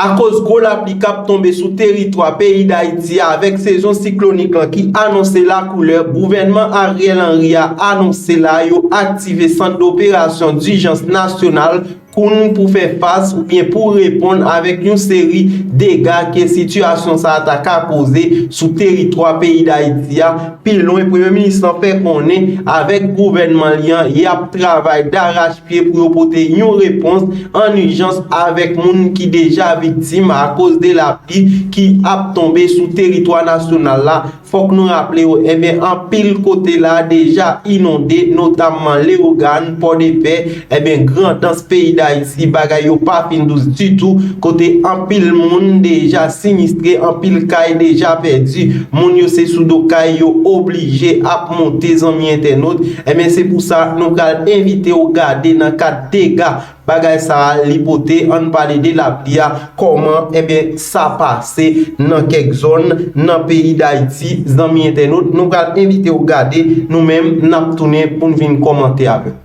Akoz gwo lapli kap tonbe sou teritwa peyi Dayiti a avèk sezon siklonik lan ki anonse lakoulè, gouvènman Ariel Henry a anonse la yo aktive sant doperasyon dijans nasyonal koun pou fè fas oubyen pou reponn avèk yon seri dega ke sitiyasyon sa a ta ka koze sou teritwa peyi Dayiti a pi lwen. Premye minis lan fè konnen avèk gouvènman li an yap travay darachpye. Pye pou yo pote yon repons an ijans avèk moun ki deja viktim akoz de lapli ki ap tonbe sou teritwa nasyonal la, fòk nou raple yo enben anpil kote la deja inonde notamman Lewogàn, Pòdepè, enben Grandans peyi Dayiti bagay yo pa fin dous ditou kote anpil moun deja sinistre anpil kay deja pèdi moun yo se sou do kay yo oblije ap monte zanmi entènot enben se pou sa nou pral envitew gade nan kad dega bagay sa a li pote ann pale de lapli a kòman enben sa pase nan kèk zòn nan peyi dayiti zanmi entènot nou pral envitew gade nou menm nap tounen poun vin kòmante avèw.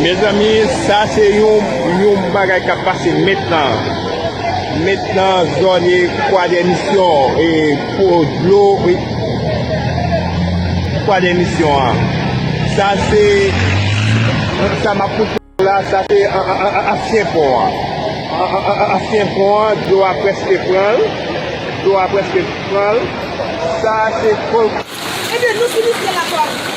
Mezanmi sa se yon bagay kap pase metnan, metnan zone kwadèmisyon. Pou dlo wi. Pwa de misyon an. Sa se. Sa map pou pou la sa se ansyen pon an. Ansyen pon an dlo a preske pranl. Dlo a preske pranl. Sa se pon. Ebyen nou fini fèl ak la.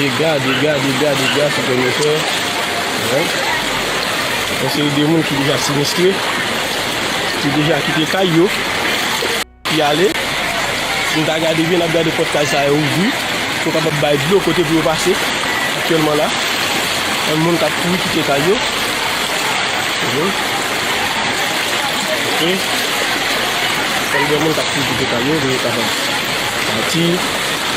Dega, dega, dega, dega sou tè nou fè. Yon seri de moun ki deja sinistre, ki deja kite kay yo, ki ale. Si nou ta gade byen, n ap gade pòt kay sa yo ouvri, pou yo kapab bay dlo kote pou yo pase. Aktyèlman la, gen moun k ap kouri kite kay yo. Gen moun k ap kouri kite kay yo, pou yo kapab pati.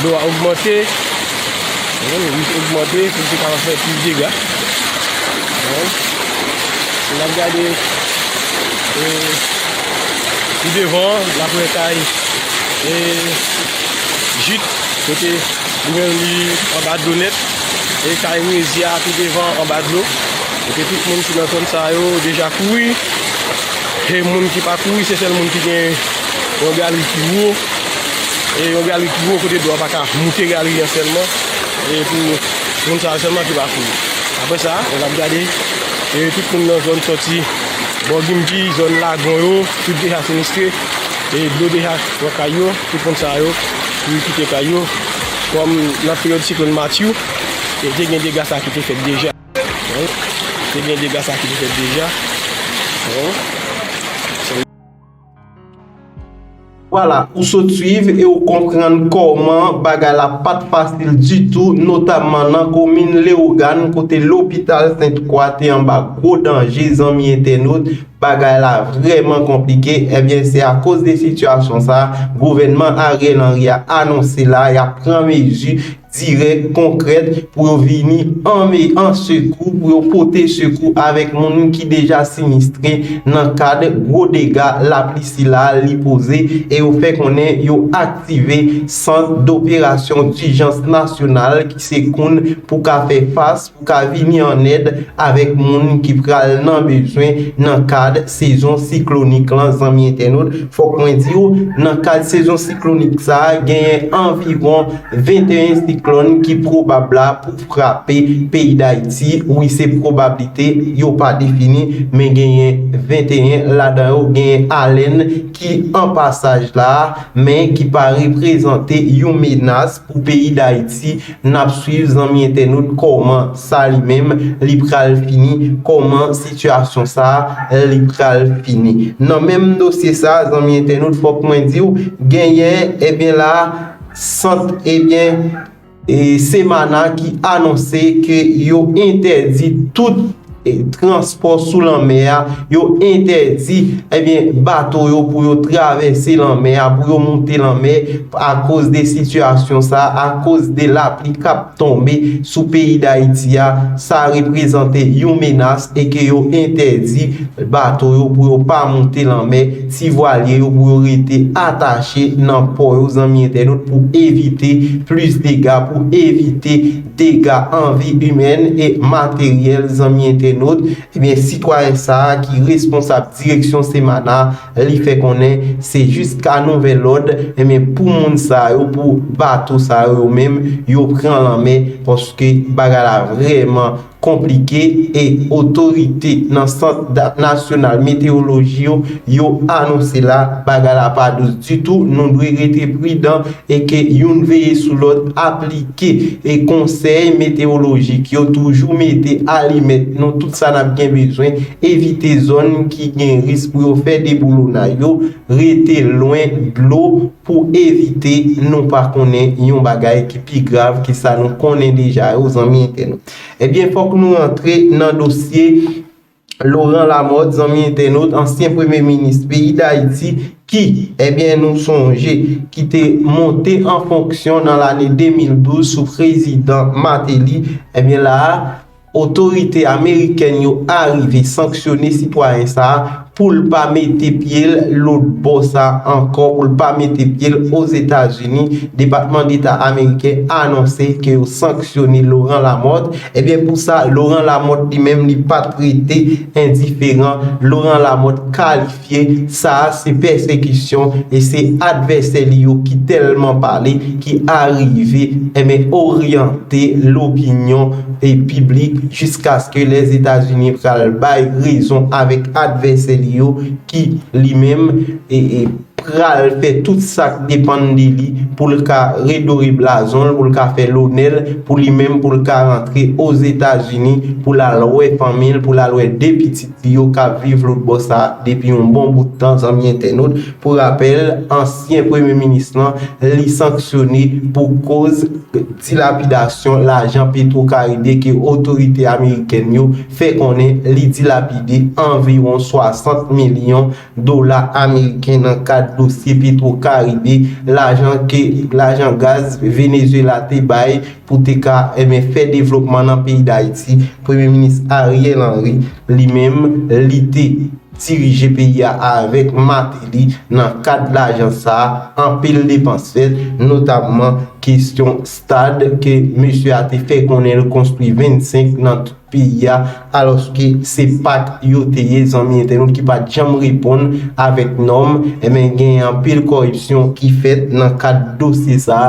Dlo a ogmante. Li ogmante pou te ka fè plis dega. Se la gade e pi devan la pou etay e jit kote li men li anba dlo net e kay Rezia pi devan anba dlo. E te tout moun ki nan zon sa yo deja kouri. E moun ki pa kouri se sel moun ki gen yon galri ki wou. E yon galri ki gwo kote dlo a pa ka moute galri an sèlman. E pou moun sa yo sèlman ki pa kouri. Apre sa, nou ap gade e tout moun nan zòn soti bò Gimgi, zòn lagon yo, tout deja sinistre. E dlo deja pran kay yo, tout moun sa yo ki kite kay yo. Kòm nan peryòd siklòn Matthew, e te gen dega sa ki te fèt deja. Te gen dega sa ki te fèt deja. Vwala, ou sot swiv e ou konprann kòman bagay la pat fasil ditou notamman nan komin Lewogàn kote lopital Sent Kwa te anba gwo danje zanmi entènot, bagay la vrèman konplike ebyen se akoz de sitiyasyon sa gouvènman Ariel Henry a anonse la yap pran mezi dirèk, konkrèt, pou yo vini anme, an sekou, pou yo pote sekou avèk moun ki deja sinistre nan kad gwo dega lapli sila li poze e yo fè konnen yo aktive Sant Doperasyon Dijans Nasyonal ki se koun pou ka fè fas pou ka vini an èd avèk moun ki pral nan bezwen nan kad sezon siklonik lan zanmi entènot fòk mwen diw nan kad sezon siklonik sa genyen anviwon 21 siklòn ki pwobab la pou frape peyi dayiti wi se pwobablite yo pa defini men genyen 21 ladan yo genyen alèn ki an pasaj la men ki pa reprezante yon menas pou peyi dayiti Nap swiv zanmi entènot kòman sa li menm li pral fini kòman sitiyasyon sa li pral fini nan menm dosye sa zanmi entènot fòk mwen diw genyen ebyen la sant ebyen semana ki anonse ke yo entèdi tout transpò sou lanmè a, yo entèdi ebyen bato yo pou yo travèse lanmè a, pou yo moute lanmè akoz de sitiyasyon sa, akoz de lapli k ap tonbe sou peyi Dayiti a, sa reprezante yon menas e ke yo entèdi bato yo pou yo pa moute lanmè, ti vwalye yo pou yo rete atache nan pò yo zanmi entènot pou evite plis dega, pou evite. dega an vi imèn e materyèl zanmi entènot ebyen sitwayen sa ki responsab direksyon Semanah li fè konnen se jiska nouvèl lòd ebyen pou moun sa yo pou bato sa yo yo menm yo pran lanmè paske bagay la vrèman konplike e otorite nan sant nasyonal metewoloji yo yo anonse la bagay la pa dous ditou nou dwe rete pridan e ke youn veye sou lòt aplike e konsèy metewolojik yo toujou mete alimèt nou tout sa nap gen bezwen evite zòn ki gen risk pou yo fè deboulonay yo rete lwen dlo pou evite nou pa konnen yon bagay ki pi grav ke sa nou konnen deja yo zanmi entènot ebyen fòk nou rantre nan dosye Laurent Lamothe, zanmi entènot, ansyen premye minis peyi Dayiti ki, ebyen nou sonje, ki te monte an fonksyon nan lane 2012 sou prezidan Martelly, ebyen la a, otorite amerikèn yo arive sanksyone sitwayen sa a pou l pa mete pye l lotbò sa a ankò, pou l pa mete pye l Ozetazini, Depatman Deta ameriken anonse ke yo sanksyone Laurent Lamothe. Ebyen pou sa Laurent Lamothe li menm li pat rete endiferan, Laurent Lamothe kalifye sa a se pèsekisyon e se advèsè li yo ki tèlman pale ki arive enben oryante lopinyon piblik jiskaske Lèzetazini pral bay rezon avèk advèsè li yo ki li menm pral fè tout sa k depann de li pou l ka redore blazon l, pou l ka fè lonè l, pou li menm pou l ka rantre Ozetazini pou l al wè fanmi l, pou l al wè 2 pitit li yo k ap viv lotbò sa a depi yon bon bout tan, zanmi entènot. Pou rapèl, ansyen premye minis lan, li sanksyone pou koz dilapidasyon lajan Petwo Karibe ke otorite amerikèn yo fè konnen li dilapide anviwon 60 milyon dola ameriken nan kad dosye Petro Caribe, lajan ke lajan gaz Venezuela te bay pou te ka enben fè devlopman nan peyi Dayiti, Premye Minis Ariel Henry li menm li te dirije peyi a avèk Martelly nan kad lajan sa a anpil depans fèt notamman kestyon stad ke mesye a te fè konnen l konstwi 25 nan peyi a aloske se pak yo te ye zanmi entènot ki pat janm reponn avèk nòm enben gen anpil koripsyon ki fèt nan kad dosye sa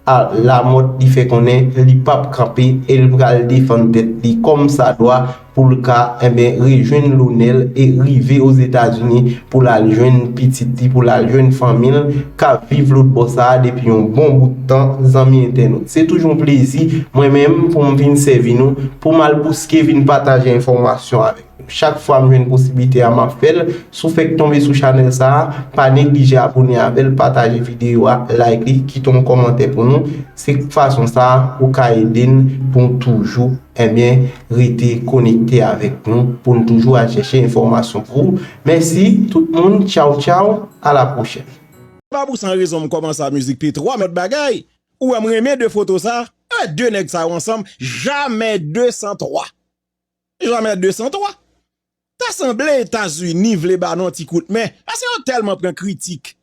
a Lamòt li fè konnen li pap kanpe e l pral defann tèt li kòm sa dwa pou l ka enben rejwenn lonè l e rive Ozetazini pou l al jwenn pitit li pou l al jwenn fanmi l kap viv lòt bò sa a depi yon bon bout tan zanmi entènot. Se toujou yon plezi mwen menm pou m vin sèvi nou, pou m al bouske vin pataje enfòmasyon avèk nou. Chak fwa m jwenn posiblite a map fè l, si w fèk tonbe sou chanèl sa a, pa neglije abone avè l, pataje videyo a, like li, kite yon kòmantè pou nou, se fason sa a ou ka ede n pou n toujou enben rete konekte avèk nou, pou n toujou al chèche enfòmasyon pou ou. Mèsi tout moun, tchaw tchaw. A la prochèn. Pa pou san rezon m kòmanse a mizik p twa lòt bagay ou wè m renmen de foto sa eh de nèg sa yo ansanm jamè de san twa jamè de san twa ta sanble etazini vle ba nou yon ti kout men pase yo tèlman pran kritik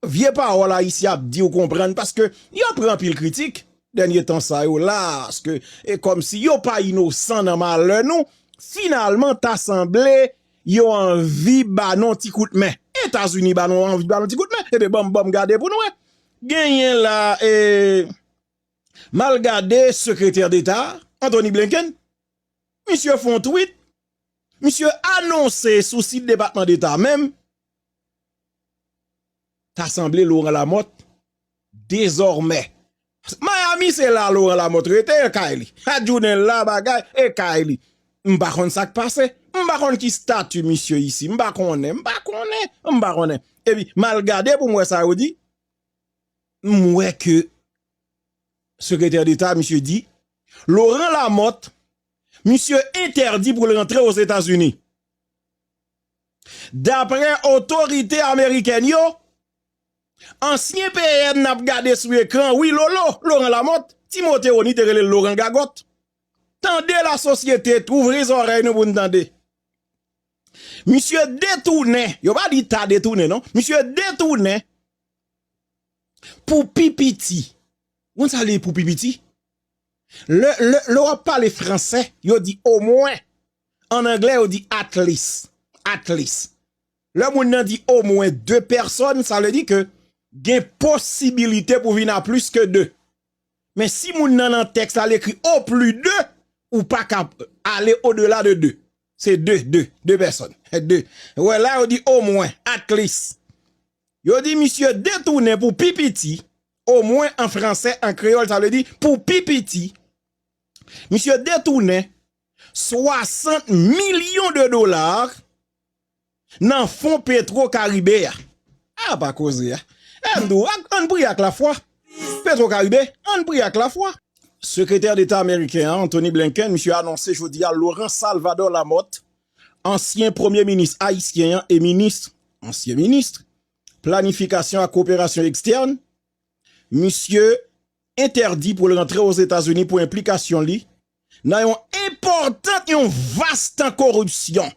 vye pawòl ayisyen ap di ou konprann paske yo pran anpil kritik dènye tan sa yo la ske e kòmsi yo pa inosan nan malè nou finalman ta sanble Yo anvi ba nou ti kout men. Etazini ba nou anvi ba nou ti kout men. Ebyen banm banm gade pou nou wè. Genyen la e m al gade sekretè deta a, Antoni Blenken. Misye fon twit. Misye anonse sou sit depatman deta menm. Ta sanble Laurent Lamothe dezòmè. Miami se la Laurent Lamothe rete e kay li. Chak jounen la bagay e kay li. M pa konn sa k pase. M pa konn ki stati misye isi. M pa konnen. M pa konnen. M pa konnen. E pi m al gade pou m wè sa yo di. M wè ke sekretè deta misye di Laurent Lamothe misye entèdi pou l rantre Ozetazini. Daprè otorite amerikèn yo, ansyen PM n ap gade sou ekran wi Lolo, Laurent Lamothe, ti Moteoni te rele l Loran Gagòt, tande lasosyete, ouvri zòrèy nou pou n tande, misye detounen, yo pa di ta detounen non, misye detounen pou pi piti, ou konn sa vle di pou pi piti? Lè w ap pale franse, yo di omwen, An anglè yo di at least, at least. Lè moun nan di omwen de pèsòn, sa vle di ke gen posibilite pou vin a plis ke de. Men si moun nan nan tèks la li ekri o pli de, ou pa ka ale o dela de de. Se de, de, de pèsòn. De. Ou wè la yo di omwen, at least. Yo di misye detounen pou pi piti, omwen an fransè, an kreyòl sa vle di pou pi piti. Misye detounen. 60 millions de dollars nan fon petro karibe a ah pa koze a eh m di w ann priye ak lafwa petro karibe ann priye ak lafwa. Sekretè Deta Ameriken an, Antony Blinken, misye anonse jodi a Laurent Salvador Lamothe, ansyen premye minis ayisyen an e minis, ansyen minis, planifikasyon ak koperasyon ekstèn, misye entèdi pou l rantre Ozetazini pou enplikasyon li nan yon enpòtan yon vas tan koripsyon.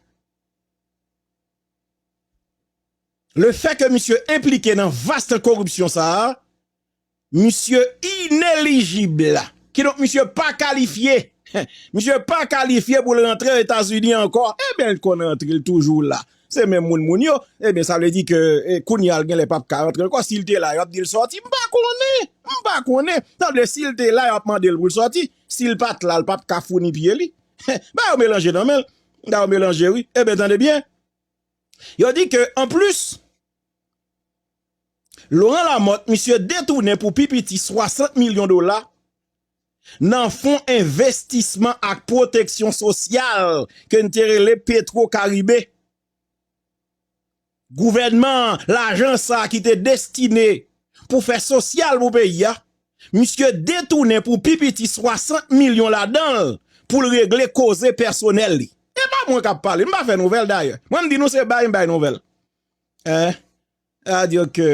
Le fè ke misye enplike nan vas tan koripsyon sa a, misye inelijib. Kidonk misye pa kalifye. Misye pa kalifye pou l rantre Etazini ankò. Eben l konn rantre, l toujou la. Se menm moun moun yo. Eben sa vle di ke kounye a l genlè pap ka rantre ankò. Si l te la, y ap di l sòti. M pa konnen. M pa konnen. Sa vle di si l te la, y ap mande l pou l sòti. Sil pat la l pap ka founi pye li. Ba yo melanje nan men. Ba yo melanje wi. Eben tande byen. Yo di ke an plis. Laurent Lamothe misye detounen pou pi piti 60 milyon dola. Nan fon envestisman ak pwoteksyon sosyal. Ke n te rele petro karibe. Gouvènman an lajan sa ki te destine pou fè sosyal pou peyi a, misye detounen pou pi piti 60 milyon ladan l pou l regle koze pèsonèl li. E pa mwen k ap pale, m pa fè nouvèl dayè. Mwen m di nou se bay m bay nouvèl. Eeh, sa vle di ke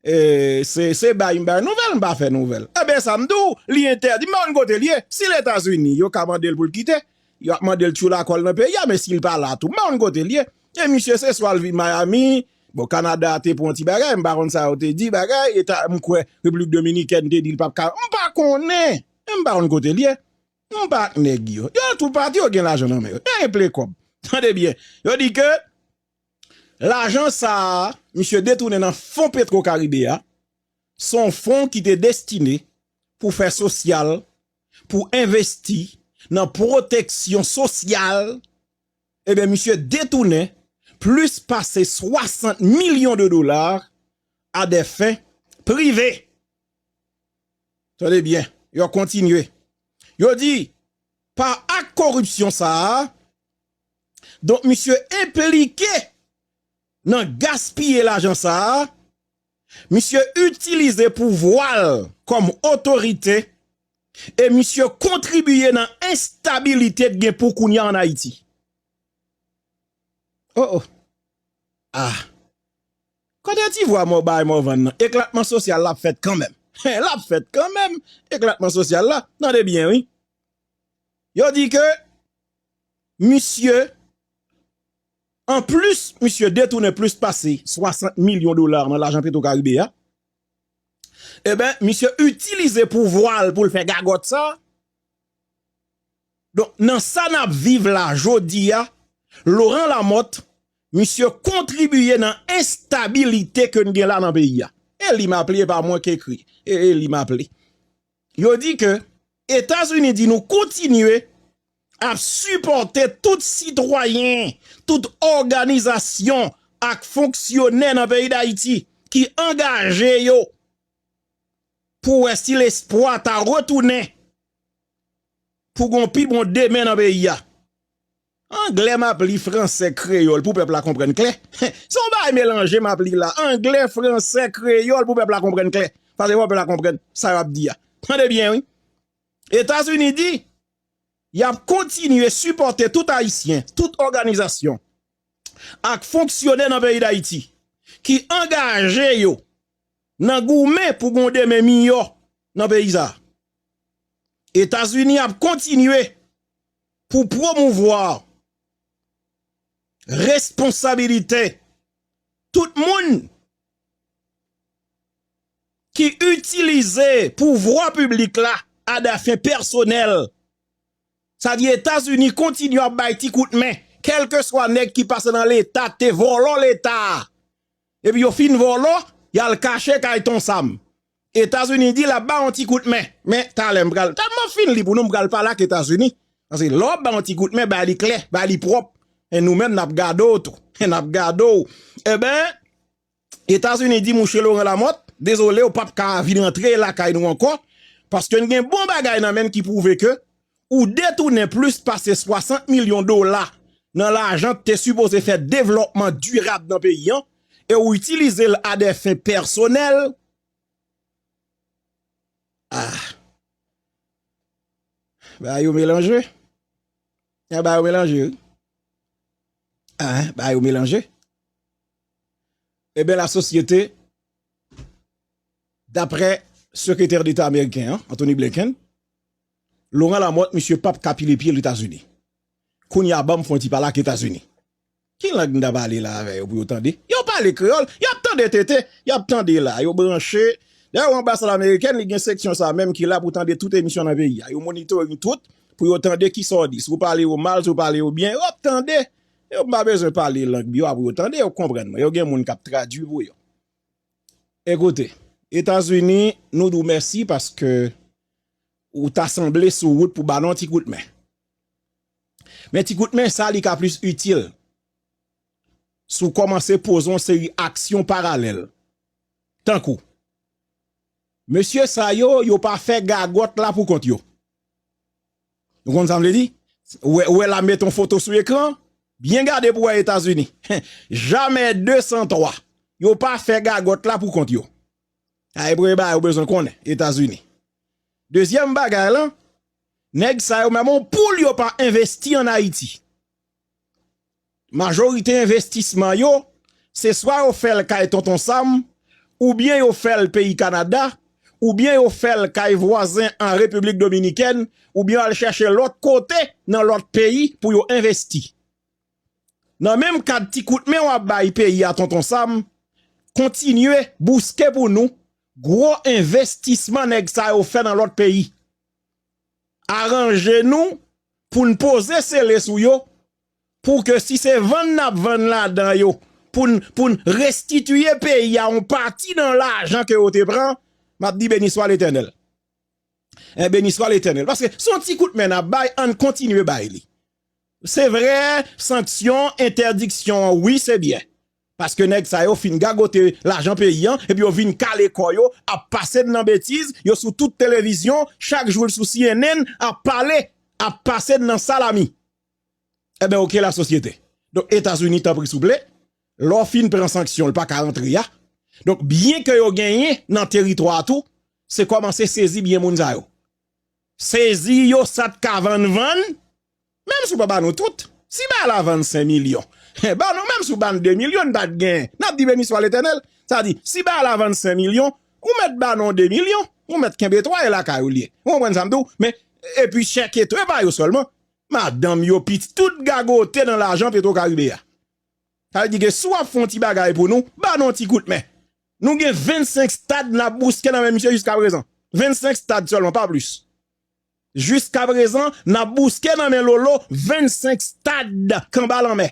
Se bay m bay nouvèl, m pa fè nouvèl. Enben sa m di w, li entèdi, m pa konn kote l ye. Si l Etazini, yo ka mande l pou l kite. Yo ap mande l tchoula kò l nan peyi a, men si l pa la tou, m pa konn kote l ye. E misye se swa l vin Miami, bon Kanada te pran yon ti bagay, m pa konn sa yo te di bagay, eta m kwè Repiblik Dominikèn te di l pap ka, m pa konnen. Men m pa konn kote l ye. M pa ak nèg yo. Yo tou pati, yo gen lajan nan men yo. Yo gen plen kòb. Tande byen. Yo di ke. Lajan sa a misye detounen nan fon petro karibe a, se yon fon ki te destine pou fè sosyal, pou envesti nan pwoteksyon sosyal, ebyen misye detounen plis pase 60 milyon de dola a dè fen prive. Tande byen, yo kontinye, yo di pa ak koripsyon sa a, Donk misye enplike nan gaspiye lajan sa a, misye itilize pouvwa l kòm otorite e misye kontribiye nan enstabilite k gen pou kounya an Ayiti. Oh oh! Ah! Kote ti vwa mò bay Morvan nan? Eklatman sosyal la ap fèt kanmenm! He! L ap fèt kanmenm, eklatman sosyal la! Tande byen wi! Yo di ke misye an plis misye detounen plis pase 60 milyon dola nan lajan petro karibe a eben misye itilize pouvwal poul fè gagòt sa don nan sa nap viv la jodi a loran lamòt misye kontribiye nan estabilite ke n gen la nan peyi a e li maple e pa mwen k ekri e li maple. Yo di ke Etazini di nou kontinye ap sipòte tout sitwayen, tout òganizasyon ak fonksyonè nan peyi Dayiti ki angaje yo pou wè si lespwa ta retounen pou gon pi bon demen nan peyi a. Anglè map li fransè kreyòl pou pèp la konprann klè se yon bagay melanje map li la anglè fransè kreyòl pou pèp la konprann klè paske fò pèp la konprann sa yo ap di a tande byen wi etazini di yap kontinye sipòte tout ayisyen tout òganizasyon ak fonksyonè nan peyi dayiti ki angaje yo nan goumen pou gon demen miyò nan peyi sa etazini ap kontinye. pou pwomouvwa responsabilite tout moun ki itilize pouvwa piblik la adafen pèsonèl, sa di Etazini kontinye ap bay ti kout men kèlkeswa nèg ki pase nan leta k te vòlò leta a epi yo fin vòlò y al kache kay Ton Sam. Etazini di lap ba yon ti kout men, men talè m pral, talè map fin li pou nou m pral pale ak Etazini, paske lè wap ba yon ti kout men bay li klè, bay li pwòp, e nou menm nap gade w tou, nap gade w, eben Etazini di mouche Laurent Lamothe, dezole ou pap ka vin antre lakay nou ankò, paske n gen bon bagay nan men n ki pwouve ke ou detounen plis pase 60 milyon dola nan lajan k te sipoze fè devlòpman dirab nan peyi an e ou itilize l a dè fen pèsonèl, ah! Bagay yo melanje, eh bagay yo melanje wi, ah! Bagay yo melanje. Eben la sosyete, daprè sekretè deta ameriken an, Anthony Blinken, Laurent Lamothe misye pap ka pile pyel etazini kounya banm fon ti pale ak etazini. Ki lang m ta pale la avè yo pou yo tande? Yo pale kreyòl, yap tande tete, yap tande la, yo branche. Dayè ou anbasad amerikèn li gen seksyon sa menm ki la pou tande tout emisyon nan peyi a. Yo monitoring tout pou yo tande kisa w di. Si w pale yo mal, si w pale yo byen, yo ap tande. Yo m pa bezwen pale lang bi yo a pou yo tande, yo konprann mwen. Yo gen moun kap tradui pou yo. Ekoute, etazini nou di w mèsi paske. Ou ta sanble sou wout pou ba l yon ti kout men. Men ti kout men sa li ka plis itil si w kòmanse poze yon seri aksyon paralèl. Tankou, mesye sa yo, yo pa fè gagòt la pou kont yo. Ou konn sa m vle di? Ou wè la met yon foto sou ekran, byen gade pou w wè Etazini. Jamè 203, yo pa fè gagòt la pou kont yo. Sa e premye bagay ou bezwen konnen Etazini. Dezyèm bagay lan, nèg sa yo menm on poul yo pa envesti an Ayiti. Majorite envestisman yo, se swa yo fè l kay Tonton Sam, oubyen yo fè l peyi Kanada, oubyen yo fè l kay vwazen an Repiblik Dominikèn, oubyen yo al chèche lòt kote nan lòt peyi pou yo envesti. Nan menm kad ti kout men wap bay peyi a Tonton Sam, kontinye bouske pou nou gwo envestisman nèg sa yo fè nan lòt peyi. Aranje nou pou n poze sele sou yo pou ke si se vann nap vann ladan yo pou n restitiye peyi a yon pati nan lajan ke yo te pran, map di beniswa letènèl. Beniswa letènèl. Paske son ti kout men nap bay, ann kontinye bay li. Se vre sanksyon entèdiksyon an wi se byen paske nèg sa yo fin gagote lajan peyi an epi yo vin kale kò yo ap pase n nan betiz yo sou tout televizyon chak jou l sou cnn ap pale ap pase n nan salami enben ok la sosyete donk etazini tanpri souple lò fin pran sanksyon l pa ka antre a donk byen ke yo genyen nan teritwa a tou se kòmanse sezi byen moun sa yo sezi yo sa t ka vann vann Menm si w pa ba nou tout, si bagay la vann 5 milyon, ba nou menm si w ba n 2 milyon n pa t gen, n ap di beniswa Letènèl. Sa di, si bagay la vann 5 milyon, ou mèt ba nou 2 milyon, ou mèt kenbe 3 e lakay ou l ye. Ou konprann sa m di w? Men, epi chèke tou, e pa yo sèlman, madanm yo, pitit, tout gagote nan lajan Petro Caribe a. Sa vle di ke si w ap fè yon ti bagay pou nou, ba nou yon ti kout men. Nou gen 25 stad n ap bouske nan men misye jiskaprezan. 25 stad sèlman, pa plis. Jiskaprezan, n ap bouske nan men Lolo 25 stad kanba lanmè.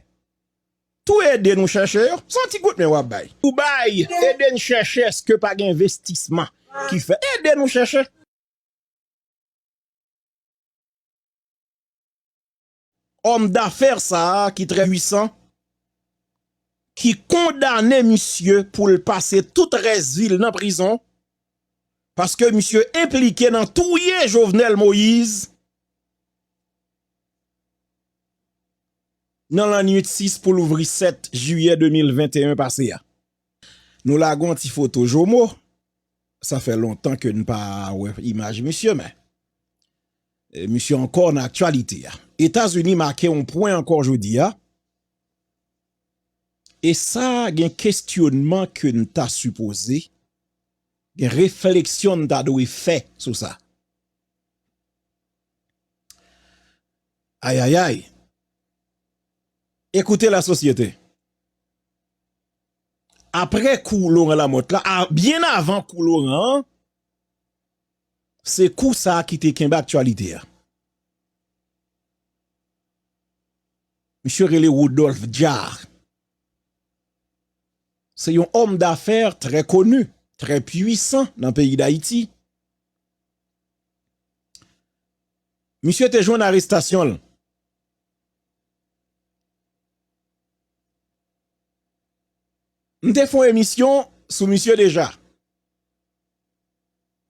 Tou ede nou chèche yo, s on ti kout men w ap bay. Tou bay, ede n chèche èske pa gen envestisman ki fèt. Ede nou chèche. Homme d'affaires sa a ki trè pwisan ki kondane misye pou l pase tout rès vi l nan prizon paske misye enplike nan touye Jovenel Moïse nan lannwit 6 pou louvri 7 jiyè 2021 pase a. Nou lage yon ti foto Jomo, sa fè lontan ke n pa wè imaj misye men Misye ankò nan aktyalite a. Etazini make yon pwen ankò jodi a. E sa gen kestyonman ke n ta sipoze, gen refleksyon n ta dwe fè sou sa. Ayayay! Ekoute la sosyete. Apre kou Laurent Lamothe la, byen avan kou Laurent an, Se kou sa ki te kenbe aktyalite a. Misye rele Rodolphe Jaar. Se yon òm dafè trè koni, trè pwisan nan peyi Dayiti. Misye te jwenn arestasyon l. M te fon emisyon sou misye deja.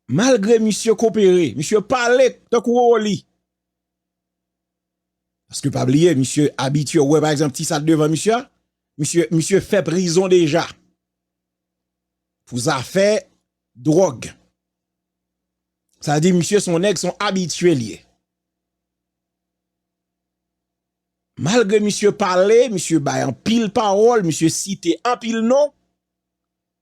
Malgre misye kopere, misye pale tankou Orly. Paske pa bliye misye abitye, ou wè pa egzanp ti sa t devan misye a, misye misye fè prizon deja pou zafè dwòg. Sa di misye son nèg son abitye l ye. Malgre misye pale, misye bay anpil pawòl, misye site anpil non.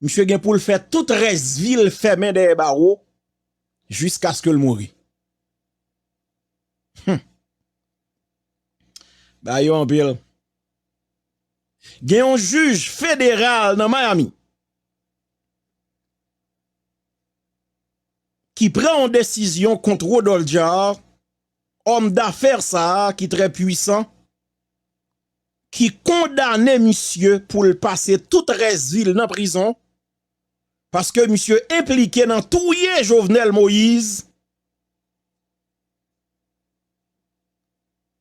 Misye gen pou l fè tout rès vi l fèmen dèyè bawo jiskaske l mouri. Hum! Bagay yo anpil. Gen yon jij federal nan Miami ki pran yon desizyon kont Rodolphe Jaar, òm dafè sa a ki trè pwisan. ki kondane misye pou l pase tout rès vi l nan prizon paske misye enplike nan touye Jovenel Moise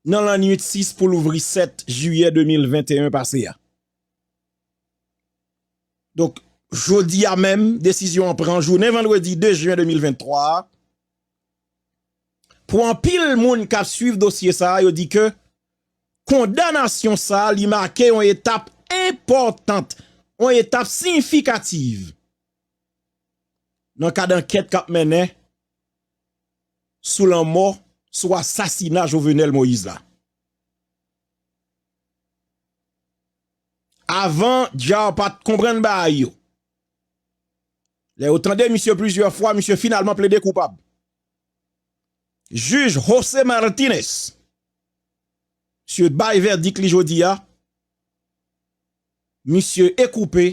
nan lannuit 6 pou louvri 7 jiyè 2021 pase a. Donk, jodi a menm, desizyon an pran jounen vandredi 2 jen 2023 a. Pou anpil moun kap swiv dosye sa a yo di ke kondanasyon sa a li make yon etap enpòtant, yon etap siyifikativ nan kad ankèt kap mennen sou lanmò, sou asasina Jovenel Moïse la. Avan Djar pat konprann bagay yo. Lè yo tande misye plizyè fwa, misye finalman plede koupab. Jij Jose Martinez misye bay vèdik li jodi a, misye ekoupe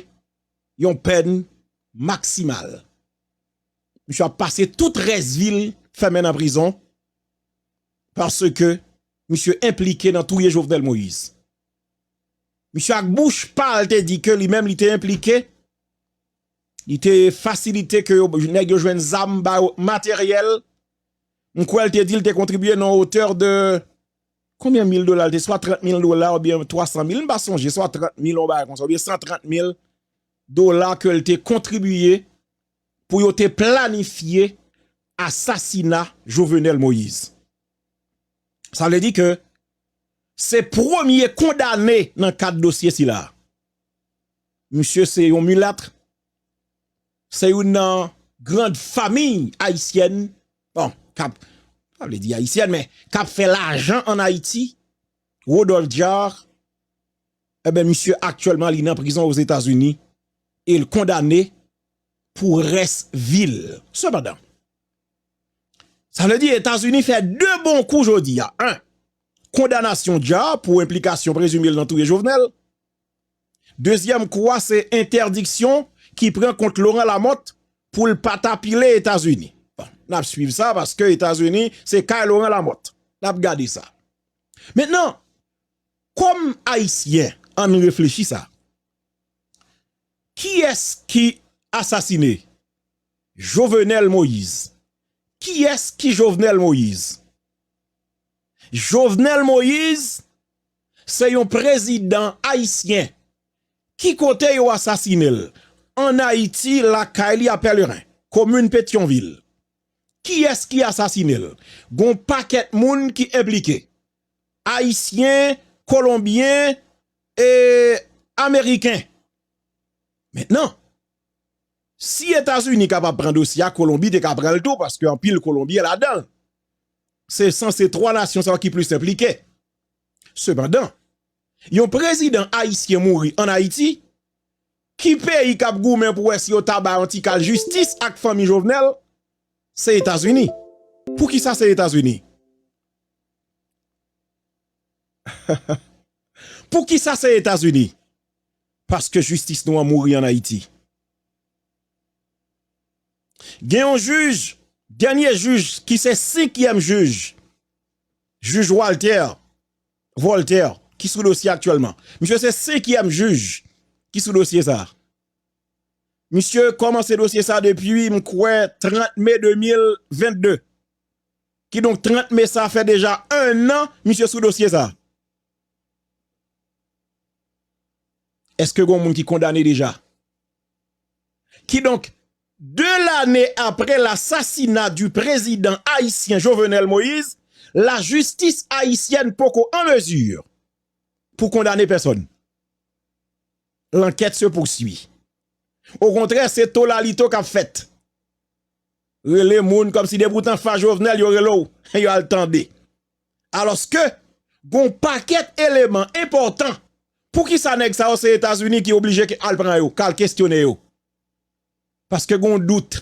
yon pèn maksimal. Misye ap pase tout rès vi l fèmen nan prizon paske misye enplike nan touye Jovenel Moïse. Misye ak bouch pa l te di ke li menm li te enplike, li te fasilite ke nèg yo jwenn zam ba yo materyèl, m kwè l te di l te kontribye nan otè de konbyen mil dola l te, swa 30 mil dola oubyen 300 mil, m pa sonje, swa 30 mil yon bagay konsa, oubyen 130 mil dola ke l te kontribye pou yo te planifye asasina Jovenel Moïse. Sa vle di ke se premye kondane nan kad dosye sila. Misye se yon mulatre, se youn nan grand famiy ayisyèn, bon, kap, pa vle di ayisyèn men, kap fè lajan an Ayiti, Rodolphe Jaar, eben misye aktyèlman li nan prizon o Zetazini, el kondane pou rès vil. Sepandan, Sa vle di Etazini fè 2 bon kou jodi a, 1 kondanasyon Ja pou enplikasyon prezime l nan touye Jovenel, dezyèm kou a se entèdiksyon ki pran kont Laurent Lamothe pou l pa ta pile Etazini. Bon, n ap swiv sa paske Etazini se kay Laurent Lamothe, n ap gade sa. Mentnan, kòm Ayisyen an n reflechi sa, kiyès ki asasine? Jovenel Moïse Kiyès ki Jovenel Moïse? Jovenel Moïse se yon prezidan ayisyen ki kote yo asasine l an Ayiti lakay li a Pèleren, komin Petyonvil. Kiyès ki asasine l? Gon w pakèt moun ki enplike, ayisyen, kolonbyen e ameriken. Mentnan. Si etazini kapab pran dosye a kolonbi te ka pranl tou paske anpil kolonbyen ladanl se sanse 3 nasyon sa yo ki plis enplike sepandan yon prezidan ayisyen mouri an ayiti ki peyi kap goumen pou wè si yo ta bay yon ti kal jistis ak fanmi jovenel se etazini poukisa se etazini poukisa se etazini. paske jistis nou an mouri an Ayiti. Gen yon jij, dènye jij ki se senkyèm jij, jij Walter, Voltaire, ki sou dosye aktyèlman. Misye se senkyèm jij ki sou dosye sa a. Misye kòmanse dosye sa a depi m kwè 30 me 2022. Kidonk 30 me sa fè deja ennan misye sou dosye sa a. Eske gon moun ki kondane deja? Kidonk, 2 lane apre lasasina di prezidan ayisyen Jovenel Moïse, lajistis ayisyèn poko an mezi pou kondane pèsòn. Lankèt se pousui. Okontrè, se tolalito k ap fèt. Rele moun kòmsi depoutan fa Jovenel yo rele w, yo al tande. Alòske, gon w pakèt eleman enpòtan poukisa nèg sa yo se Etazini ki oblije k al pran yo, k al kestyone yo. Paske gon w dout.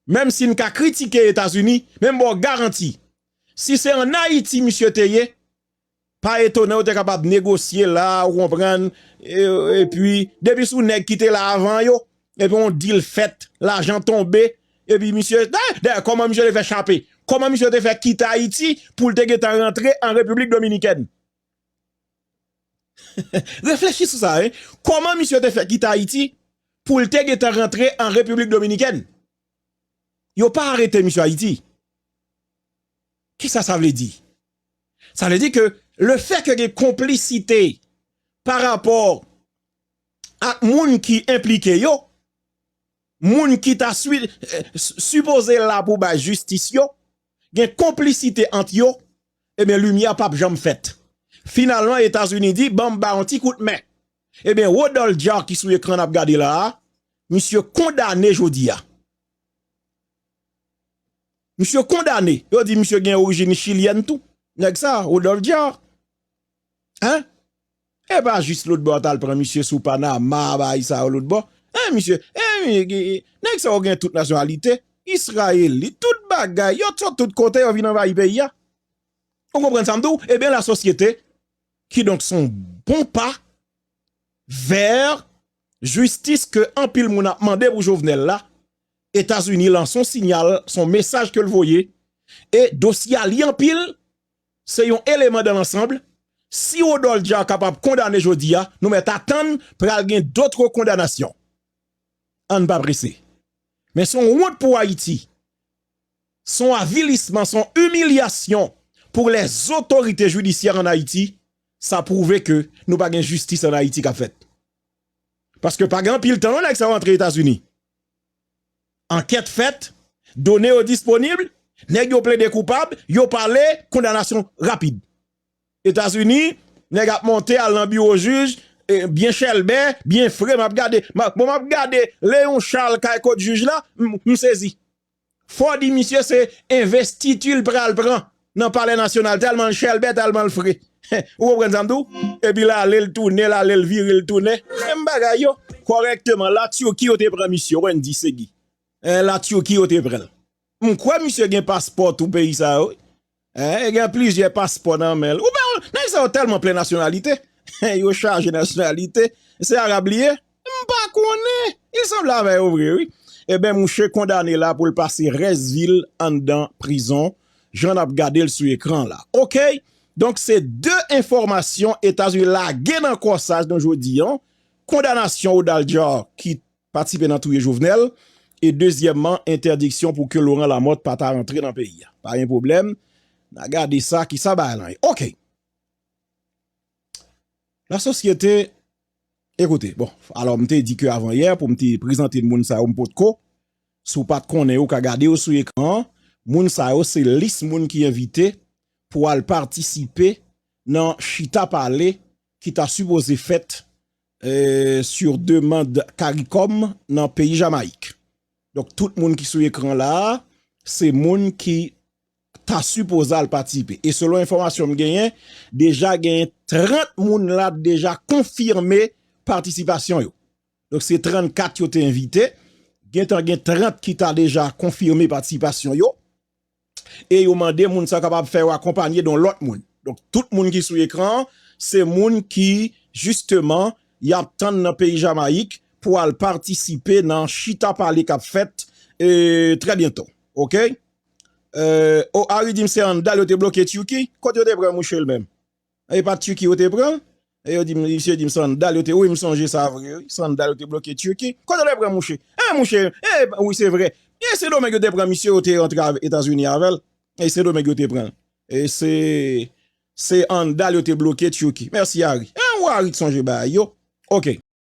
Menm si n ka kritike Etazini, men m ba w garanti, si se an Ayiti misye te ye, pa etone yo te kapab negosye la, ou konprann, epi depi sou nèg ki te la avan yo, Epi yon deal fèt, lajan tonbe, epi misye, dayè kòman misye te fè chape, kòman misye te fè kite Ayiti pou l te gentan rantre an Repiblik Dominikèn? Reflechi sou sa, kòman misye te fè kite Ayiti pou l te gentan rantre an Repiblik Dominikèn? Yo pa arete misye Ayiti. Kisa sa vle di? Sa vle di ke lefè ke gen konplisite pa rapò ak moun ki enplike yo, moun ki ta sipoze la pou bay jistis yo, gen konplisite ant yo, ebyen limyè pap janm fèt. Finalman Etazini di ban m ba yon ti kout men. Ebyen Rodolphe Jaar ki sou ekran n ap gade la a, misye kondane jodi a. Misye kondane, yo di misye gen orijin chilyèn tou, nèg sa a, Rodolphe Jaar. Epa jis lotbò a tal pran misye sou panama bay sa yo lotbò eh misye eh nèg sa yo gen tout nasyonalite israelite tout bagay yo sot tout kote yo vin anvayi peyi a ou konprann sam di w ebyen la sosyete kidonk son bon pa vèr jistis ke anpil moun ap mande pou jovenel la etazini lan son sinyal son mesaj ke l voye e dosye a li anpil. Se yon eleman dan lansanbl, si Rodolphe Jaar kapab kondane jodi a, nou mèt atann pral gen dotre kondanasyon. Ann pa prese. Men son wont pou Ayiti, son avilisman, son imilyasyon pou lèzotorite jidisyè ann Ayiti, sa pwouve ke nou pa gen jistis ann Ayiti kap fèt. Paske pa gen anpil tan non nèg sa yo antre Etazini. Ankèt fèt, done yo disponib, nèg yo plede koupab, yo pale, kondanasyon rapid. Etazini, nèg ap monte al nan biwo jij, byen chèlbè, byen fre, m ap gade, bon m ap gade Leon Charles kay kot jij la, m sezi. Fò di misye se envestiti l pral pran Nan palè nasyonal tèlman l chèlbè tèlman l fre ou konprann sa m di w epi l ale l tounen l ale l vire l tounen menm bagay yo kòrèkteman la Turquie yo te pran misye Wendy Segui la Turquie yo te pran l m kwè misye gen paspò tou peyi sa yo wi e gen plizyè paspò nan men l ou pa wè nèg sa yo tèlman plen nasyonalite yo chaje nasyonalite se arab li ye M pa konnen, li sanble avè yo vre wi. Eben mouche kondane la poul pase rès vil anndan prizon jan nap gadel sou ekran la ok donk se 2 enfòmasyon etazini lage nan kòsaj nou jodi an kondanasyon odaljar ki patisipe nan touye jovenel e dezyèman entèdiksyon pou ke loran lamòt pa ta rantre nan peyi a pa gen pwoblèm na gade sa kisa bagay lan ye ok. La sosyete, ekoute, bon, alò m te di ke avan yè pou m te prezante moun sa yo m pot ko, si w pat konnen yo ka gade yo sou ekran an, moun sa yo se lis moun ki envite pou al patisipe nan chita pale ki ta sipoze fèt sur demand caricom nan peyi Jamayik. Donk tout moun ki sou ekran la a, se moun ki ta sipoze al patisipe e selon enfòmasyon m genyen deja genyen 30 moun la deja konfime patisipasyon yo donk se 34 yo te envite gentan gen 30 ki ta deja konfime patisipasyon yo e yo mande moun sa kapab fè yo akonpanye don lòt moun donk tout moun ki sou ekran an se moun ki jisteman y ap tann nan peyi jamayik pou al patisipe nan chita pale k ap fèt e trè byento ok. Oh Ari dim se an dal yo te bloke Turquie kot yo te pran mouche l menm e pat Turquie yo te pran e yo dim misye dim se an dal yo te wi m sonje sa vre wi se an dal yo te bloke Turquie kot yo te pran mouche e mouche e wi se vre e sendomeng yo te pran misye yo te antre etazini avèl e sendomeng yo te pranl e se se an dal yo te bloke Turquie merci Ari e ou Ari k sonje bagay yo ok.